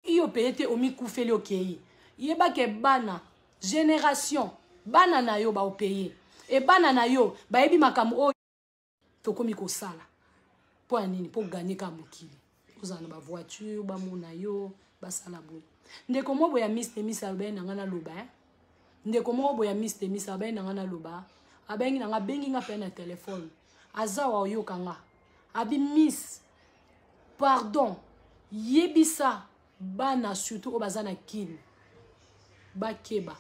iyo peye te omikufeli okei yeba ke bana generation bana na yo baopeye e bana na yo bayebi makambo oyo tokomi kosala mpo ya nini mpo ganye ka mokili ozala na bavoiture bamona yo basala boye ndeko moko boya miss temis alobaki na ngai naloba eh? ndeko moko boya miss temis alobaki na ngai naloba abengi na ngai abengi ngai mpe na telefone aza wa oyoka nga abi miss pardon yebisa bana surtout oyo baza na kin bakeba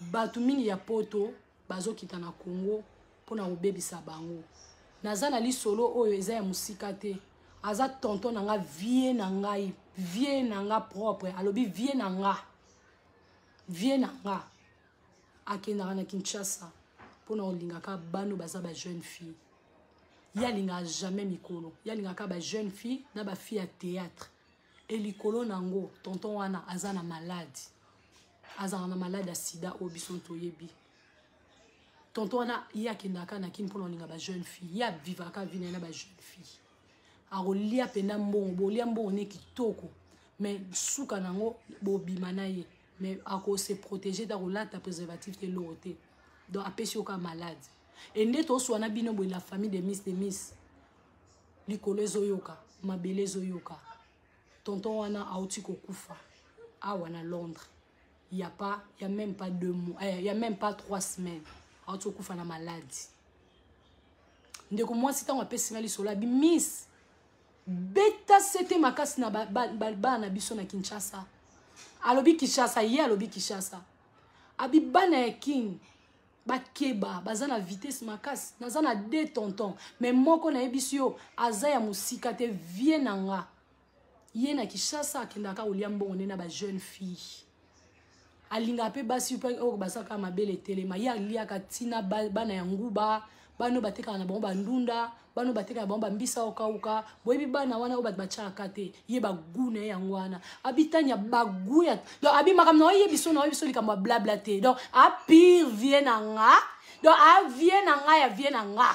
bato mingi ya poto bazokita na congo mpona kobebisa bango naza na lisolo oyo eza ya mosika te aza tonton na nga vie na ngai vie na nga propre alobi vie na nga vie na nga akendaka na kinshasa mpona kolingaka bano baza ba jeune fille ye alingaka jamais mikolo ye alingaka ba jeune fille na ba fille ya théâtre e likolo na yango tonton wana aza na malade azalaka na malade ya sida oyo biso toyebi tonton wana ye akendaka na kini mpona olinga ba jeune fille ye avivaka vi na ye na ba jeune fille akolia mpenza mbongo bolia mbongo ne kitoko mais suka na yango bobima na ye mais akose protege te akolata préservatif te eloko te donc apesi yo kaka malade e nde toswana bino boye la famille de miss de miss likolo ezoyoka mabele ezoyoka tonton wana auti kokufa awa na londres ya pas ya même pas deux mois eh, ya même pas trois semaines auti kokufa na maladi ndeko mwasi ntango apesi nga lisolo abi miss beta sete makasi na bana ba, ba, ba, biso na kinshasa alobi kinshasa ye alobi kinshasa abi bana ya king bakeba baza na vitesse makasi naza na de tonton me moko nayebisi yo aza ya mosika te vie na nga ye na kishasa akendaka kolia mbongo nde na bajeune fille alingaka mpe basi mpe oyo bazaka mabele etelema ye aliaka ntina bana ya nguba bana oyo batekaka na bango bandunda bana oyo batekaka na bango bambisa okauka boyebi bana wana oyo bato batyaka te ye bagu na ye yango wana abitania bagu ya donc abi makambo na oye biso na oye biso likambo ya blabla te donc apire vie na nga donc avie na nga ya vie na nga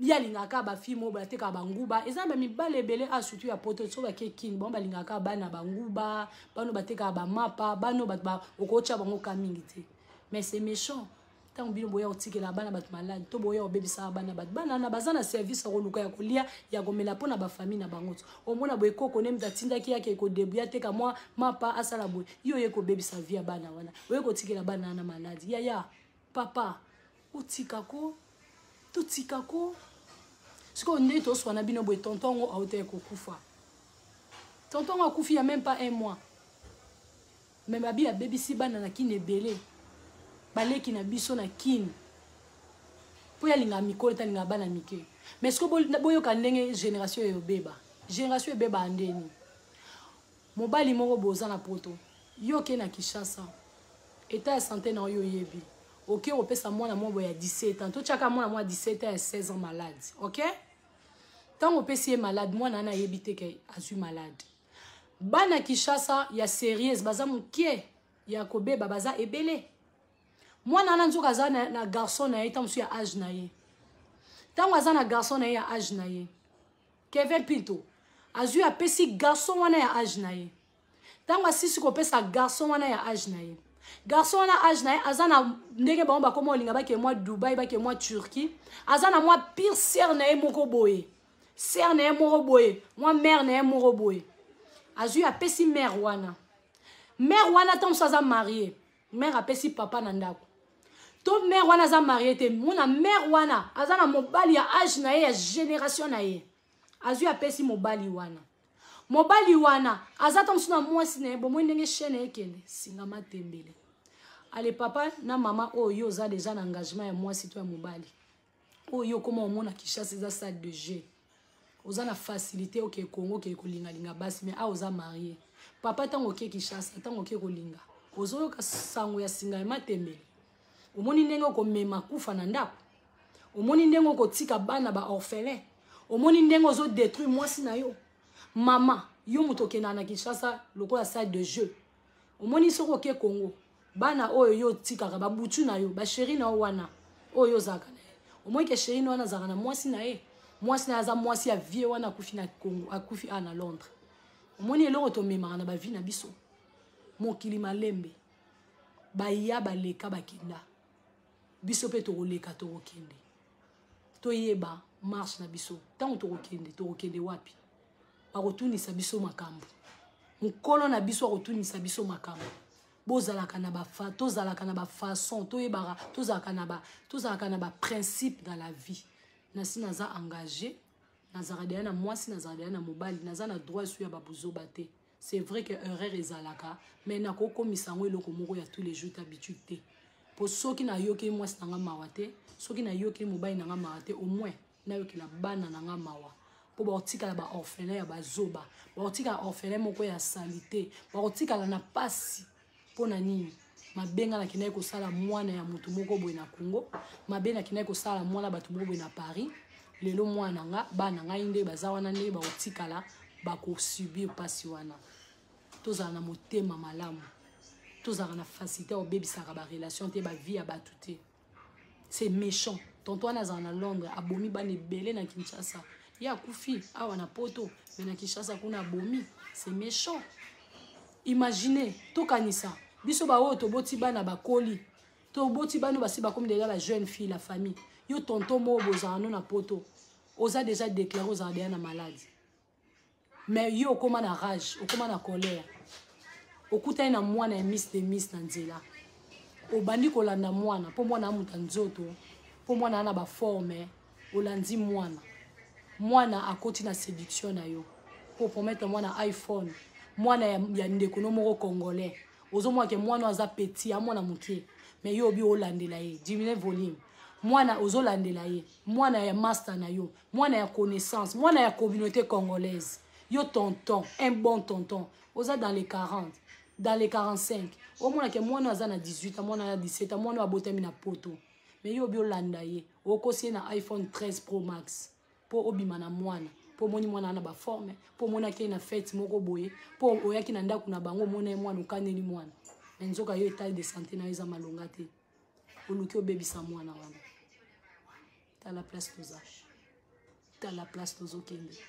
ye alingaka bafilme oyo batekaka banguba eza na bamibale ebele a ah, surtout ya poto so bake kin bango balingaka bana banguba bano batekaka bamapa bano bato okotya bango ka mingi te mais c'est méchant ntango bino boya kotikela bana bato maladi to boya kobebisaka bana bato bana wana baza na service ya koluka ya kolia ya komela mpo na bafamille na bango to omona boye koko ne moto atindaki yake ekodebu ya teka mwa mapa asala boye yo oye kobebisa vi ya bana wana oye kotikela bana wana maladi yaya papa otika ko totika ko sikoyo nde toswana bino boye tonton yango auta ekokufa tonton yango akufi ya meme pas un mois Mais mabi abebisi bana na kin ebele. Baleki na biso na kin. Po ya linga mikolo ta linga bana mike. Mais ce que boyo ka ndenge génération yo beba. Génération ebeba andeni. Mobali moko boza na poto. Yo ke na Kishasa. Eta ya santé na yo yebi. Oke opesa mwana mwa boya 17 ans. To chaka mwana mwa 17 ans ya 16 ans malade. Okay? ntango opesi ye malade mwana wana ayebi te ke azwi malade bana kishasa ya serieuse baza mokie ya kobeba baza ebele mwana wana nzoka aza na, na garçon na ye ntango mosusu ya age na ye ntango aza na garçon na ye ya age na ye kevin pinto azwi apesi garçon wana ya age na ye ntango asisi kopesa garçon wana ya age na ye garçon wana age na ye aza na ndenge bango bakoma olinga bake mwa dubai bake mwa turquie aza na mwa pire sere na ye moko boye sere na ye moko boye mwa mare na ye moko boye azwi apesi mare wana mare wana ntango mosusu aza marie mare apesi papa na ndako to mare wana aza marie te mona mare wana aza na mobali ya age na ye ya génération na ye azwi apesi mobali wana mobali wana aza ntango mosusu na mwasi na ye bomoi ndenge chaine ekende singa matembele ale papa na mama oyo yo oza deja na engagement ya mwasi to ya mobali oyo yo okoma omona kishasa eza salle de jeu oza na facilité okee congo okee kolingalinga basi mais awa oza marie papa ntango okee kishasa ntango okee kolinga ozoyoka sango ya singa ya matembele omoni ndenge okomema kufa na ndako omoni ndenge okotika bana ba orphelin omoni ndenge ozodétruire mwasi na yo mama yo moto okendaka na kinshasa lokola salle de jeu omoni soki oke congo bana oyo yo otikaka babutu na yo basheri na yo wana oyo yo ozalaka na ye omoi ke sheri na wana azalaka na mwasi na ye mwasi na ye aza mwasi ya vie wana akufi na congo akufi a na londres omoni eloko tomemaka na bavi na biso mokili malembe baya baleka bakenda biso mpe tokoleka tokokende toyeba marche na biso ntango tokokende tokokende wapi bakotunisa biso makambo mokolo na biso akotunisa biso makambo bozalaka na bafa tozalaka na bafaçon toyebaka tozalaka na ba tozalaka na baprincipe na la vie nasi naza engage nazalaka deya na mwasi nazalaka deya na mobali naza na droit esu ya babuzoba te c'est vrai que erreur ezalaka mais nakokomisa yango eloko moko ya tous les jours habitude te mpo soki nayokeli mwasi na nga mawa te soki nayokeli mobali na nga mawa te au moins nayokela bana na nga mawa mpo bakotikala baorphelin ya bazoba bakotikala orphelin moko ya salite bakotikala na mpasi mpo na nini mabe ngai nakendaki kosala mwana ya moto moko boye na congo mabe nakendaki kosala mwana bato moko boye na paris lelo mwana nga bana ngai nde baza wana nde bakotikala bakosubir mpasi wana tozala na motema malamu tozalaka na facilité obebisaka barelation te bavie ya bato te c'est méchant tonto wana azala na londres abomi bana ebele na kinshasa ye akufi awa na poto me na kinshasa kuna abomi c'est méchant imagine tokanisa biso baoyo toboti bana bakoli toboti bana basi bakomi deja ba jeune fille la famille yo tonto moo bozala no na poto oza deja déclare ozala deja na maladi mais yo okoma na rage okoma na colère okutani na mwana ya miss de miss na nzela obandi kolanda mwana mpo mwana amuta nzoto mpo mwana ana baforme olandi mwana mwana akoti na séduction na yo mpo promettre mwana iphone mwana ya, ya ndeko no moko congolais ozomona ke mwana aza petit ya mwana moke mais yo obi olandela ye diminue volume mwana ozolandela ye mwana ya master na yo mwana ya connaissance mwana ya communauté congolaise yo tonton un bon tonton oza dans les 40 dans les 45 omonake mwana aza na 18 ans mwana ya 17 ans mwana oyo abotami na poto mais yo obi olanda ye okosi ye na iphone 13 pro max mpo obima na mwana mpo omoni mwana wana baforme mpo omonaki ye na fete moko boye mpo oyaki na ndako na bango omona ye mwana okaneli mwana me nzoka yo etat de santé na yo eza malonga te oluki obebisa mwana wana tala place toza tala place tozokende